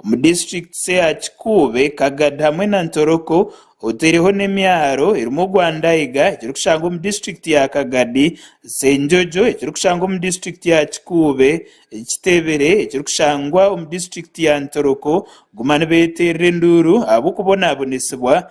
omu disiturikiti ya Kikuube, Kagadi hamwe na Ntoroko oteireho n'emyaro erimu ogwa Ndaiga ekirikushangwa omu disiturikiti ya Kagadi, Senjojo ekirikushangwa omu disiturikiti ya Kikuube, Kitebere ekirikushangwa omu disiturikiti ya Ntoroko kuguma nibeterera enduuru ahabw'okubonabonesibwa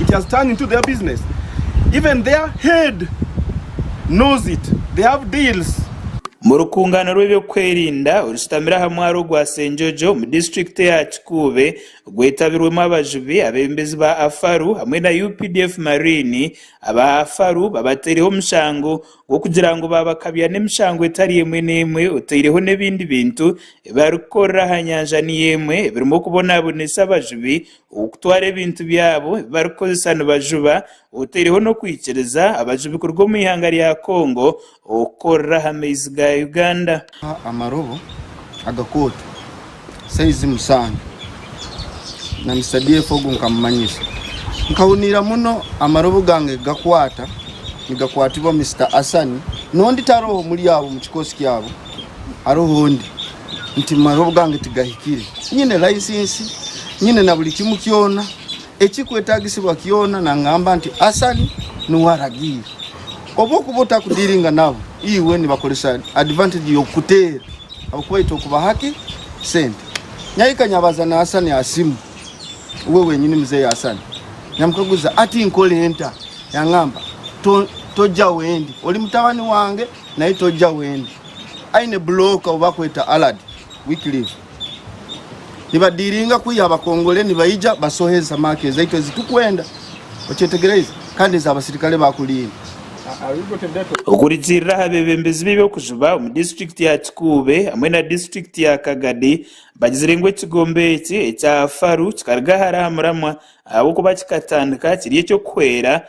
it has turned into their business even their head knows it they have deals. Mu rukungaana rw'ebyokwerinda orushutamire aha mwaaro gwa Senjojo omu disiturikiti ya Kikuube gwetabirwemu abajubi, abebembezi ba Afaru hamwe na updf Marine, aba Afaru babateireho omushango gw'okugira ngu babakabya n'emishango etari emwe n'emwe oteireho n'ebindi bintu ebibarikukorera aha nyanja niyo emwe ebirimu okubonabonesa abajubi Okutwara ebintu byabo ebi barikukozesa nibajuba otaireho n'okwikiriza abajubi kuruga omu ihanga rya Congo okukorera aha maizi ga Uganda. Amarobo agakooto saizi musanju na Misadiefu ogu nkamumanyisa. Nkahuniira muno amarobo gange gakwata nigakwatibwa Mister Asani n'ondi tariho omuri abo omu kikoosi kyabo hariho ondi. nti amaroobo gange tigahikire. Nyine layisinsi, nyine na buri kimu kyona ekirikwetaagisibwa kyona. Naagamba nti, Asali niwe aragiire. Obu orikuba otakudiringa nabo, iwe nibakoresa advantage y'okukuteera ahabw'okuba baine kubaha ki? Sente. Nyahika nyabaza na Asali aha simu, we wenyini Muzei Asali. Nyamukaguza, Hati nkore nta? Yaangamba, Toja wendi. Ori mutabani wange. Naye tojja wendi. Aine block owu bakweta Allard Wycliffe. Niba dealinga kwiha abakongole nibaija basoha eza mark ezaitu ezi tukwenda. Okyetegereize? Kandi eza abasirikale ba kurinda. Okurugiirira aha beebembezi b'eby'okujuba omu disiturikiti ya Kikuube hamwe na disiturikiti ya Kagadi, bagizire ngu ekigombe eki ekya Faru kikaruga hare aha muramwa ahabw'okuba kikatandika kiri eky'okuhwera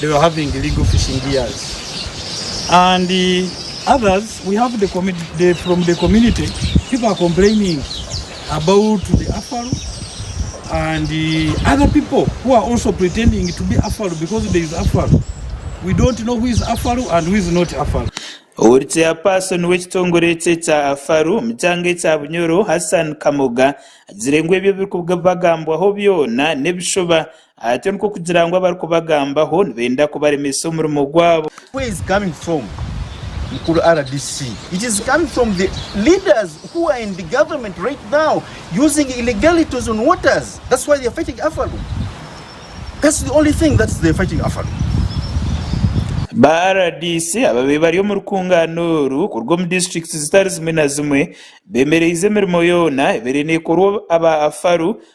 they were having legal fishing gears and others we have the community from the community people are complaining about the afal and other people who are also pretending to be afal because there is afal we don't know who is afal and who is not afal Owuri chairperson w'ekitongore ekyo ekya afal omu kyanga ekya Bunyoro Hassan Kamoga agizire ngu ebyo ebirikubagambwaho byona n'ebishuba Ati nikwo kugira ngu abarikubagambaho nibenda kubaremesa omurimo gwabo. Ba rdc ababaire bari omu rukungaana oru kuruga omu disiturikiti zitari zimwe na zimwe bemereize emirimo yoona ebaire nekorwa aba Afaru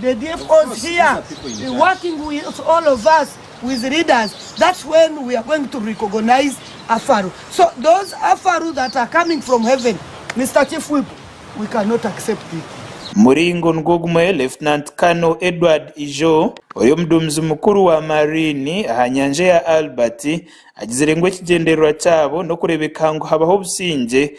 The thief was here working with all of us with leaders that's when we are going to recognize Afaru so those Afaru that are coming from heaven Mister chief whip we cannot accept it. Muringo nigwo gumwe Lieutenant Colonel Edward Ijo, ori omuduumizi mukuru wa Marine aha nyanja ya Albert, agizire ngu ekigyendererwa kyabo n'okureebeka ngu habaho obusingye